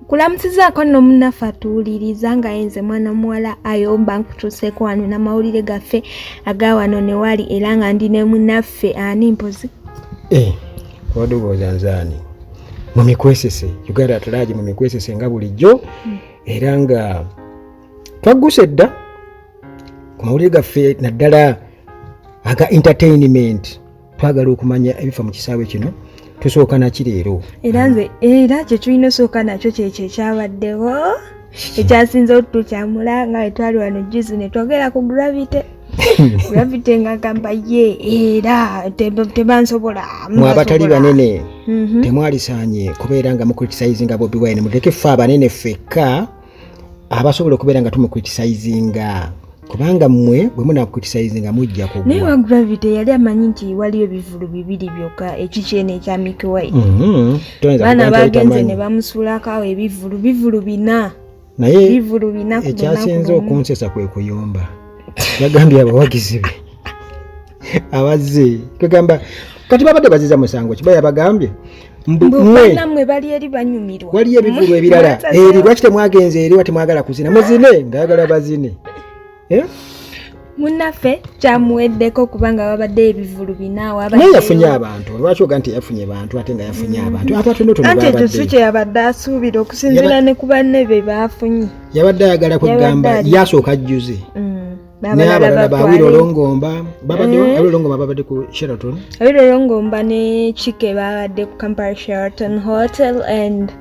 kulamusizaako nno munnaffe atuwuliriza nga yenze mwana omuwala ayomba nkutuuseeko wano namawulire gaffe aga wano ne wali era nga ndi ne munnaffe ani mpozi eh, obadde obooza nze ani mu mikwesese uganda atulaagi mu mikwesese nga bulijjo hmm. era nga twagguse dda ku mawulire gaffe naddala aga entertainment twagala okumanya ebifa mu kisaawe kino tusooka naki leero era nze era kye tulina osooka nakyo kyekyo ekyabaddewo ekyasinze otutukyamula nga wetwali wano juzi netwogera ku gravity gravity nga gamba ye era tebansobola mwe abatali banene mhm. temwalisaanye kubeera nga mukulitisayizi nga bobi wine muteke ffe abanene ffekka abasobola okubeera nga tumukritisayizinga kubanga mmwe bwe munakritisayizinga mujja kugwa naye wa gravity yali amanyi nti waliyo ebivulu bibiri byokka ekikyeno ekya mikiwait mhm. baana bagenze ne bamusuulako awo ebivulu bivulu bina naye bivulu bina ekyasinze okunsesa kwe kuyomba yagambye abawagizi be abazze kwegamba kati babadde baziza musango kiba yabagambye mbwe bali eri banyumirwa waliyo ebivulu ebirala eri lwaki temwagenze eri watemwagala kuzina muzine ngayagala bazine eh? munaffe kyamuweddeko kubanga babadde ebivulu binaawanaye yafunye abantu lwaki oga nti yafunye bantu ate nga yafunye mm. abantu abatontonoanti ekyo si kye yabadde asuubira okusinziira ne ku banne be baafunye yabadde ayagala kwegamba yasooka jjuze mm. n'abalala ba awiro olongomba babadde mm. awiro olongomba babadde ku sheraton awiro olongomba ne kike babadde ku kampala sheraton hotel and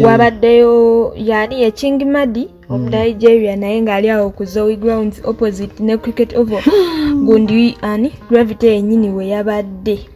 wabaddeyo yani ye king madi of mm. nigeria naye ng'ali awo ku zoe grounds opposite ne cricket oval gundi ani gravity yenyini we yabadde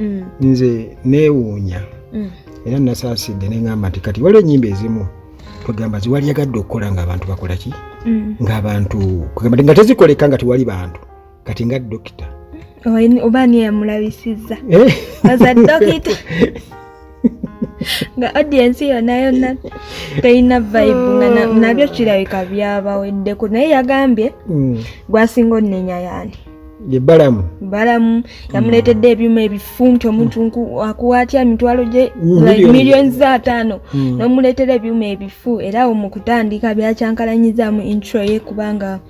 mm. nze neewuunya mm. era nasaasidde neŋamba nti kati waliwo enyimba ezimu kwegamba ziwali yagadde okukola ngaabantu bakola ki mm. ngaabantu kwegamba nga tezikoleka nga tewali bantu kati nga dokita oba ani eyamulabisizza eh. nga audience yona yona teyina vibe nga nabyo kirabika byabaweddeko naye yagambye mm. gwasinga onenya yani balamu balamu yamuleetedde mm. ebyuma ebifumti omuntu mm. akuwa atya emitwalo gye million za ataano nomuleetera ebyuma ebifu era awo mu kutandika byakyankalanyizamu intro ye kubanga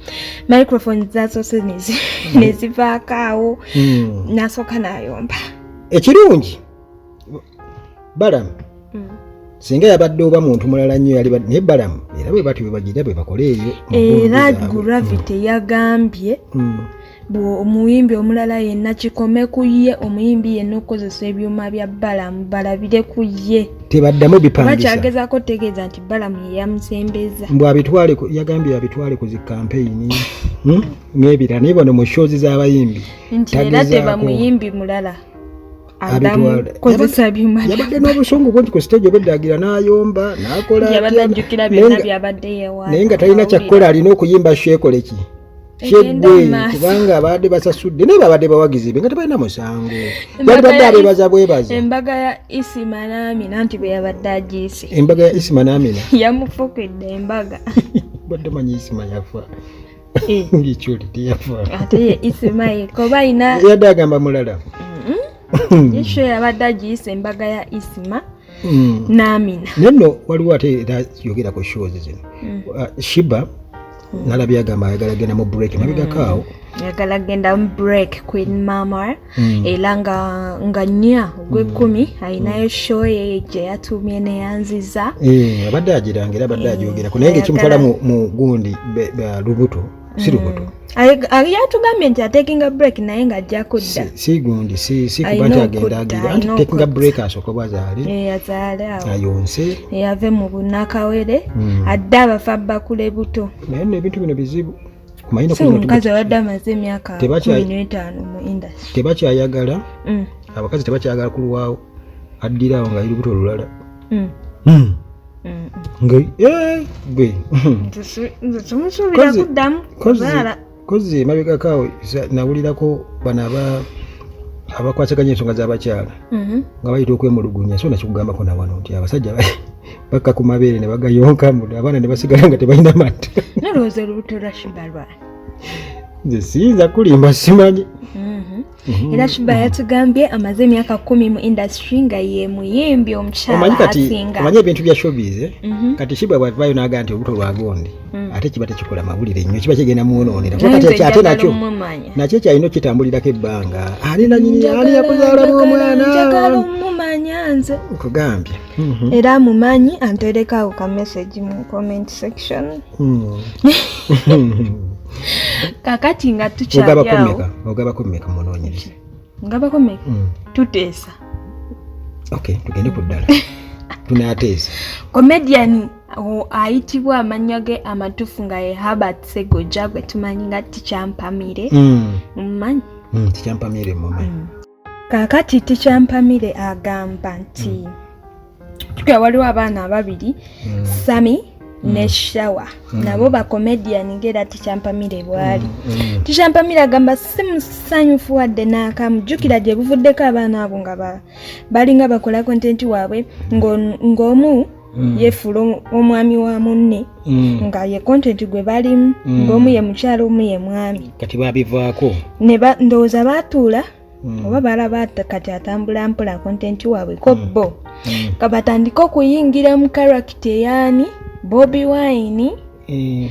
microphone zasoose nezivaako awo nasooka nayomba ekirungi balamu mm. singa yabadde oba muntu mulala nnyo yali naye balamu era bwe batyo bwebagira bwe bakola eyo era gravity mm. yagambye mm. omuyimbi omulala yenna kikome ku ye omuyimbi yenna okukozesa ebyuma bya balamu balabire ku ye tebaddamu bipandisabakyagezako tegeeza nti balamu yeyamusembeza mbu abitwale yagambye abitwale ku zikampeyini hmm? n'ebirala naye bano mu shozi z'abayimbi nti era tebamuyimbi mulala yabadde n'obusungu bungi ku siteegi obeddagira n'ayomba n'akolaanaye nga talina kyakkola alina okuyimba shekoleki kyegwe kubanga abadde basasudde naye babadde bawagizi be nga tebalina musango balibadde abebaza bwebaza embaga ya isima namina nti bwe yabadde agiise embaga ya isima namina yamufukidde embaga badde manyi isima yafa Eh. ngikyuli teyafayadde agamba mulala isho yabadde agiyisa embaga ya isima mm. namina neno waliwo ate era yogera ku shows zino mm. uh, shiba mm. nalabye agamba ayagala genda mu break nabigakaawo yagala genda mu break queen mama mm. era nga nga nnya ogw'ekkumi mm. alinayo mm. show ye gye yatuumye neyanziza eh, abadde agiranga era abadde eh, agyogerako naye ngaekimutwala mu gundi lubuto si lubuto mm. yatugambye nti atekinga break naye nga ajja kudda si gundi si si kuba nti agenda agira anti tekinga break asooka oba azaale eh, azaale awo ayonse eyave eh, mu bunakawere hmm. adde abafa bakule buto naye no ebintu bino bizibu omukazi abadde amaze emyaka kumi n'etaano mu indasi tebakyayagala mm. abakazi tebakyayagala kulwawo addira awo nga lirubuto olulala mm. mm. nga eh, gwe temusuubira kuddamu kuzaala kozi emabegako awo nawulirako bano aba abakwasaganya ensonga z'abakyala mm-hmm. nga bayita okwemulugunya so nakikugambako nawano nti abasajja bakka ku mabeere ne bagayonka muda abaana ne basigala nga tebalina mata nalowooza olubuto lwa shiba lwani nze siyinza kulimba simanyi mhm. Mhm. era shiba yatugambye amaze emyaka kumi mu industry nga ye muyimbi omukyalaomanye ebintu bya showbiz eh? mhm. kati shiba bwavayo naga nti olubuto lwagondi mm. ate kiba tekikola mawulire nnyo kiba kigenda mwononera ate nakyo nakyo ekyalina okitambulirako ebbanga ani nanyini ani yakuzaalamu omwana nkugambye Mm-hmm. era amumanyi anterekawo ka message mu comment section mm. kakati nga tukyaliawogabako meka munonyereza ngabako meka mm. tuteesa okay tugende ku ddala tunateesa comedian ayitibwa amanya ge amatufu nga ye habert segoja gwe tumanyi nga tikyampamire mm. mumanyi tikyampamire mumanyi kaakati tikyampamire agamba nti tukira hmm. waliwo abaana ababiri hmm. sami hmm. ne shawa nabo bacomedian ngaera tikyampamire bwali tikyampamire agamba si musanyufu wadde naakamu jjukira gye buvuddeko abaana abo nga balinga bakola kontenti waabwe ng'omu Mm. yefuula omwami wa munne mm. nga ye content gwe balimu mm. ngaomu ye mukyalo omu ye mwami kati babivaako ndowooza baatuula oba balaba kati atambula mpola content waabwe ko bo kabatandike okuyingira mu karakita eyaani bobi wine eh.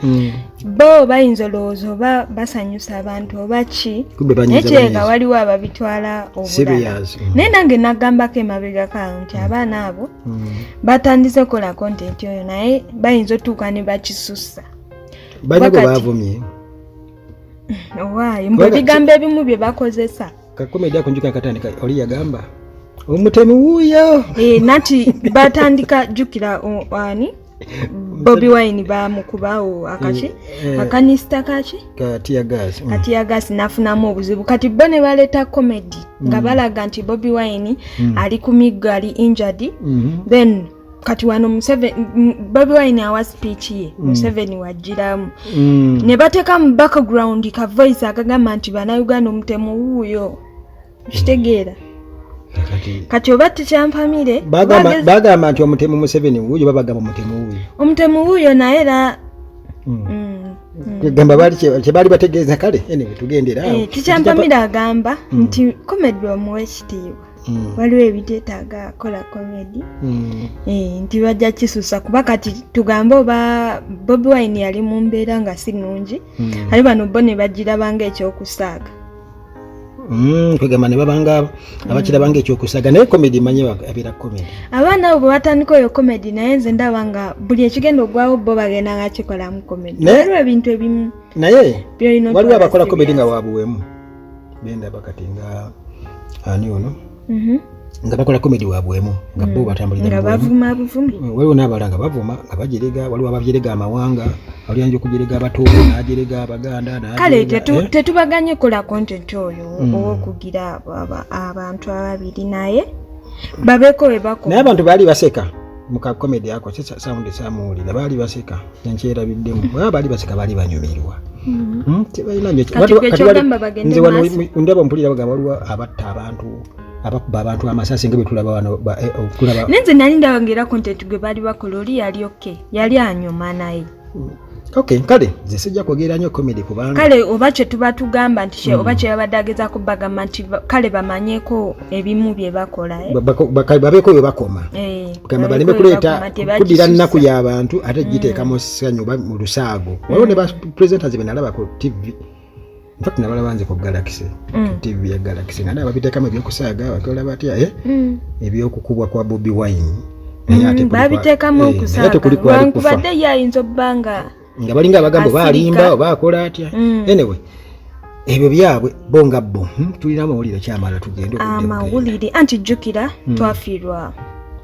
hmm. bo bayinza olowooza oba basanyusa abantu oba ki naye kireka waliwo ababitwala obulala hmm. naye nange nagambako emabega kawo nti hmm. abaana abo batandise okukola kontenti oyo naye bayinza otuuka ne bakisussa banyego bavumye owaayi mbu ebigambo ebimu bye bakozesa kakumi ejja kunjuka akatandika oli yagamba omutemi wuuyo eh, nati batandika jukira ani mm. bobi wine bamukubawo akaki eh, eh. akanisita kaki katiyagasi mm. nafunamu obuzibu kati bo ne baleeta comedy nga mm. balaga nti bobi wine ali ku miggo ali injured mm-hmm. then kati wano bobi wine awa speech ye museveni wajjiramu ne bateeka mu background ka voice akagamba nti banauganda omutemu wuuyo okitegeera kati oba tikyampamire bagamba nti omutemu museveni wuuyo babagamba omutemu wuuyo omutemu wuuyo naye era hmm. Hmm. Hmm. gamba bali kyebaali bategeeza kale anyway tugendera eh, tikyampamire agamba nti komedi omuwa ekitiibwa Mm. waliwo ebiteetaaga kola komedi mm. eh, nti bajja kisusa kuba kati tugambe oba bobi wine yali mu mbeera nga si nungi mm. ali bano bo ne bagirabanga ekyokusaaga Mm, kwegamba ne babanga abakirabanga ekyokusaga naye komedi manye abeera komedi abaana abo bwebatandika oyo komedi naye nze ndaba nga buli ekigenda ogwawo bo bagenda nga kikolamu komedi waliwo ebintu ebimu naye waliwo abakola komedi nga wabuwemu bendaba kati nga ani ono mhm. nga bakola komedi wabwemu nga bo mm. batambulirwaliwo n'abala nga bavuma nga bajerega waliwo abajerega amawanga waliyanja okujerega abatuubu najerega abaganda kale eh? tetubaganye kola content oyo mm. owokugira abantu ababiri naye babeko webakonaye abantu baali baseka muka comedy ako se sound samuwulira baali baseka nkyerabiddemu baba baali baseka baali banyumirwa mm-hmm. hmm, tebalinanze wano ndaba mpulira bagamba waliwo abatta abantu abakuba abantu amasasi nga betulaba wano eh, oh, nenze nali ndabangera content gwe baali bakola oli yali oke yali anyuma naye Okay, kale nze sijja kwogera nnyo comedy kubanga kale oba kye tuba tugamba nti kye mm. oba kye babadde ageza kubagamba nti kale bamanyeko ebimu bye bakola eh? babeeko bye bakoma eh, gamba baleme kuleeta kuddira nnaku y'abantu ate giteeka mm. mu ssanyu oba mu lusaago waliwo ne ba presenters be nalaba ku tv Fat na bala banze ku Galaxy. Mm. TV ya Galaxy. Ngana babite kama byo kusaga wakola batia eh. Mm. Ebyo kukubwa kwa Bobby Wine. Naye ate mm, babite kama eh, kusaga. Ate kuli kwa kufa. Kubade ya inzo banga. Nga balinga abagambo balimba bakola atia. Mm. Anyway. Ebyo byabwe bonga bo. Hmm? Tulina amawulire kyamala tugende okudde. Amawulire anti jukira mm. twafirwa.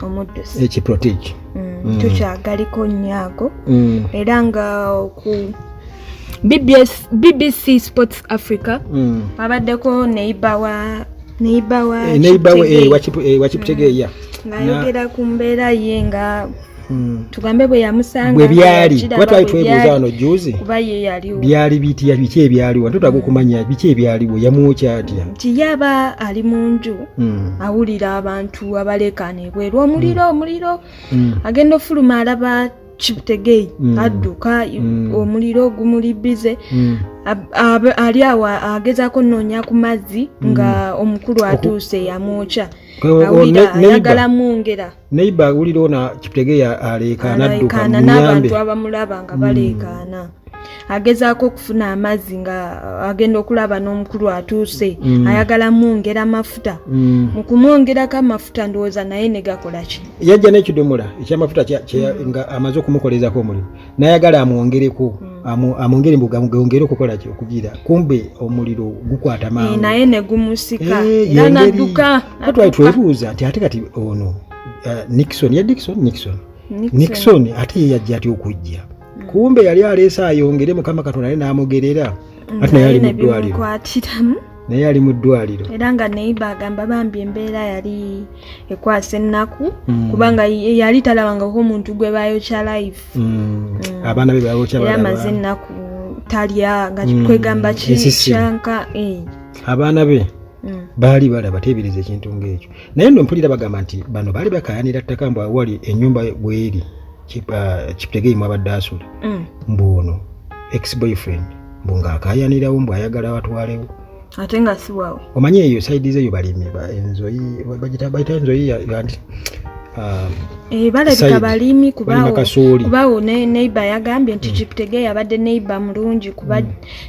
omuddusi ekiprotege mm. mm. tukyagaliko nnyo ago mm. era nga oku BBS, BBC Sports Africa mm. abaddeko neiba wa neiba wa eh, neiba wa eh, eh, wakiptegeya mm. nayogera ku mbeera ye nga mm. tugambe bwe yamusanga bwe byali kuba twali twebuuza wano juzi kuba ye yaliwo byali bitya biki ebyaliwo ate tutaga okumanya mm. biki ebyaliwo yamwokya atya nti yaba ali mu nju mm. awulira abantu abaleekaana ebweru omuliro mm. omuliro mm. agenda ofuluma alaba kibutegei mm. adduka mm. omuliro ogumuli bize mm. ali awo agezako noonya ku mazzi nga omukulu atuuse yamwokya awulira ayagala mwongera neiba awulira ona kibutegei aleekaana adduka n'abantu abamulaba nga baleekaana agezaako okufuna amazzi nga uh, agenda okulaba n'omukulu atuuse mm. ayagala mwongera amafuta mm. mu kumwongerako amafuta ndowooza naye ne gakola ki yajja n'ekidomola ekyamafuta mm. nga amaze okumukolezako omulimu nayagala amwongereko mm. amwongere mbu gongere okukola ki okugira kumbe omuliro gukwata eh, mangu naye ne gumusika eh, era nadduka twali twebuuza nti ate kati ono uh, nixon ya dixon nixon nixon ate ye yajja atya okujja hmm. kumbe yali aleese ayongere mukama katonda naye n'amugerera hmm, ati naye ali mu ddwaliro naye ali mu ddwaliro era nga neiba agamba bambi embeera yali ekwasa ennaku hmm. kubanga yali talabangako omuntu gwe bayokya life abaana be bayokya amaze ennaku talya nga kwegamba kyanka eh. abaana be baali balaba teebereza ekintu ng'ekyo naye nno mpulira bagamba nti bano baali bakayanira ttaka mbu awali ennyumba bweri kiptegei mwabadde asula mm. mbu ono ex boyfriend mbu ng'akaayanirawo mbu ayagala watwalewo ate nga siwawo omanyi eyo saidi zeyo balimi enzoyi bagita enzoyi yanti um, eh, balabika balimi kubawo neiba yagambye nti kiptege mm. yabadde neiba mulungi kuba mm.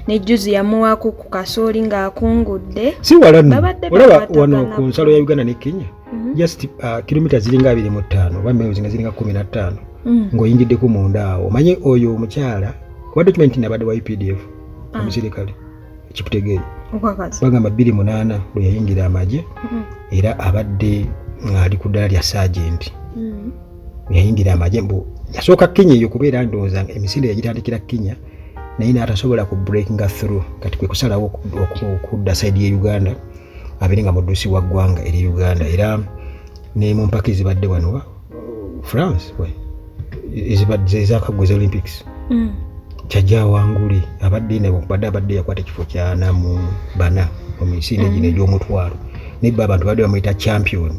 nejuzi yamuwaako ku kasooli ng'akungudde siwalanu olaba wano ku nsalo ya uganda ne kenya mhm. just uh, kilomita ziringa abiri mu ttaano oba miles nga ziringa kumi na ttaano mm. ng'oyingiddeko munda awo omanye oyo omukyala kuba document nti nabadde wa updf ah. omusirikale ekikutegeere bagamba bbiri munaana lwe yayingira amagye mm-hmm. era abadde ng'ali ku ddala lya saagenti mm. yayingira amagye mbu yasooka kenya eyo kubeera ndowooza emisinde yagitandikira kenya naye n'atasobola ku breakinga through kati kwe kusalawo okudda saidi ye uganda abeere nga muddusi wa ggwanga eri uganda era ne mu mpaka ezibadde wano uh, france ezakaggwa eza olympics mm. kyajja awangule abadde nabadde abadde yakwata ekifo kyana mu bana omumisinde gino mm. egy'omutwalo naye ba abantu badde bamuyita champion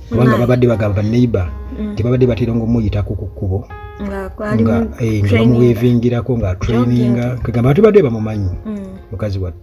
kubanga babadde bagamba baneighbor mm. tebabadde batera nga omuyitako ku kkubo nga eh, bamuwevingirako nga traininga kagamba batubadde bamumanyi mukazi wattu